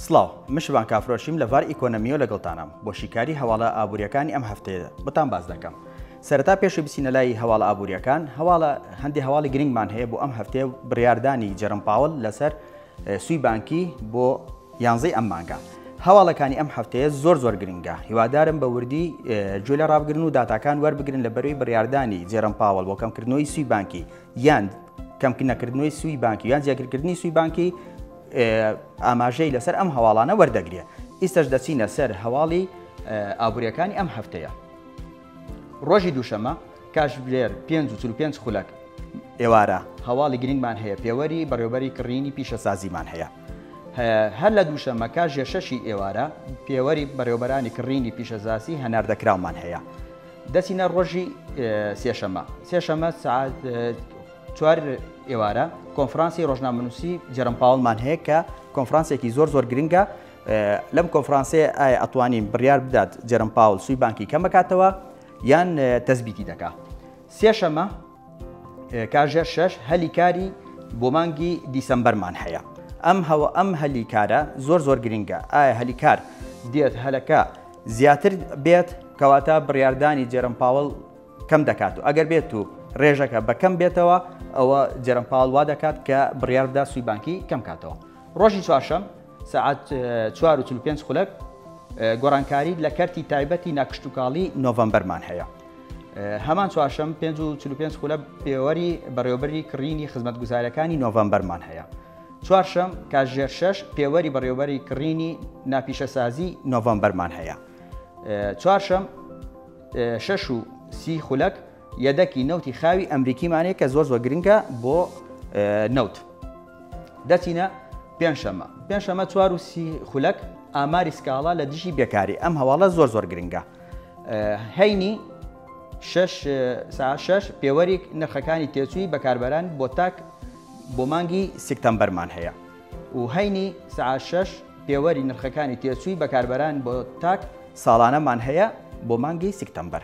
سڵاو من شڤان کافرۆشیم لە ڤار ئیکۆنەمیۆ لەگەڵتانام بۆ شیکاری هەواڵە ئابووریەکانی ئەم هەفتەیە بۆتان باس دەکەم سەرەتا پێشی بچینە لای هەواڵە ئابووریەکان هەواڵە هەندی هەواڵی گرنگمان هەیە بۆ ئەم هەفتەیە بڕاردانی جەرم پاوەل لەسەر سوی بانکی بۆ یانزەی ئەم مانگە هەواڵەکانی ئەم هەفتەیە زۆر زۆر گرنگە هیوادارم بە وردی گوێ لە ڕابگرن و داتاکان وەربگرن لە بەروی بڕاردانی جێرم پاوەڵ بۆ کەمکردنەوەی سوی بانکی یان کەمکردنەکردنەوەی سوی بانکی یان جیاگرکردنی سوی بانکی ئاماژەی لەسەر ئەم هەواڵانە وەردەگرێ. ئیستەش دەچینە سەر هەواڵی ئابووریەکانی ئەم هەفتەیە. ڕۆژی دووشەمە کاژێر پێنج و چل و پێنج خولەک ئێوارە هەواڵی گرنگمان هەیە پێوەری بەڕێوبەری کڕینی پیشەسازیمان هەیە. هەر لە دووشەمە کاژێر شەشی ئێوارە پێوەری بەڕێوبەرانی کڕینی پیشەزاسی هەناردەکراومان هەیە. دەچینە ڕۆژی سێشەمە سێشەمە سەعات چوار ئێوارە کۆنفرانسی ڕۆژنامەنووسی جێرم پاوڵمان هەیە کە کۆنفرانسێکی زۆر زۆر گرنگە لەم کۆنفرانسێ ئایا ئەتوانین بڕیار بدات جێرم پاول سوی بانکی کەمەکاتەوە یان تەزبیتی دەکا سێشەمە کاژێر شەش هەلی کاری بۆ مانگی دیسەمبەرمان هەیە ئەم هەوە ئەم هەلی کارە زۆر زۆر گرنگە ئایا هەلی کار دێت هەلەکە زیاتر بێت کەواتە بڕاردانی جێرم پاوەڵ کەم دەکات و ئەگەر بێت و ڕێژەکە بە کەم بێتەوە ئەوە جێرم پاڵ وا دەکات کە بڕیار بدا سوی بانکی کەم کاتەوە ڕۆژی چوارشەم سعات 4 و 5 خولەک گۆڕانکاری لە کەرتی تایبەتی ناکشتتوکاڵی نۆڤمبەرمان هەیە هەمان چوارشەم 5 و 5 خولە پێوەری بەڕێوبەری کڕینی خزمەتگوزارەکانی نۆڤمبەرمان هەیە چوارشەم کاژێر شش پێوەری بەڕێوبەری کڕینی ناپیشەسازی نۆڤمبەرمان هەیە چوارشەم شەش و سی خولەک یەدەکی نەوتی خاوی ئەمریکیمان هەیە کە زۆر زۆر گرنگە بۆ نەوت. دەچینە پێنجشەمە. پێنجشەمە چوار و سی خولەک ئاماری سکاڵا لە دژی بێکاری. ئەم هەواڵە زۆر زۆر گرنگە. هەینی شەش سا شەش پێوەریک نرخەکانی تێچووی بەکاربەران بۆ تاک بۆ مانگی سکتەمبەرمان هەیە. و هەینی سەعات شەش پێوەری نرخەکانی تێچووی بەکاربەران بۆ تاک ساڵانەمان هەیە بۆ مانگی سکتەمبەر.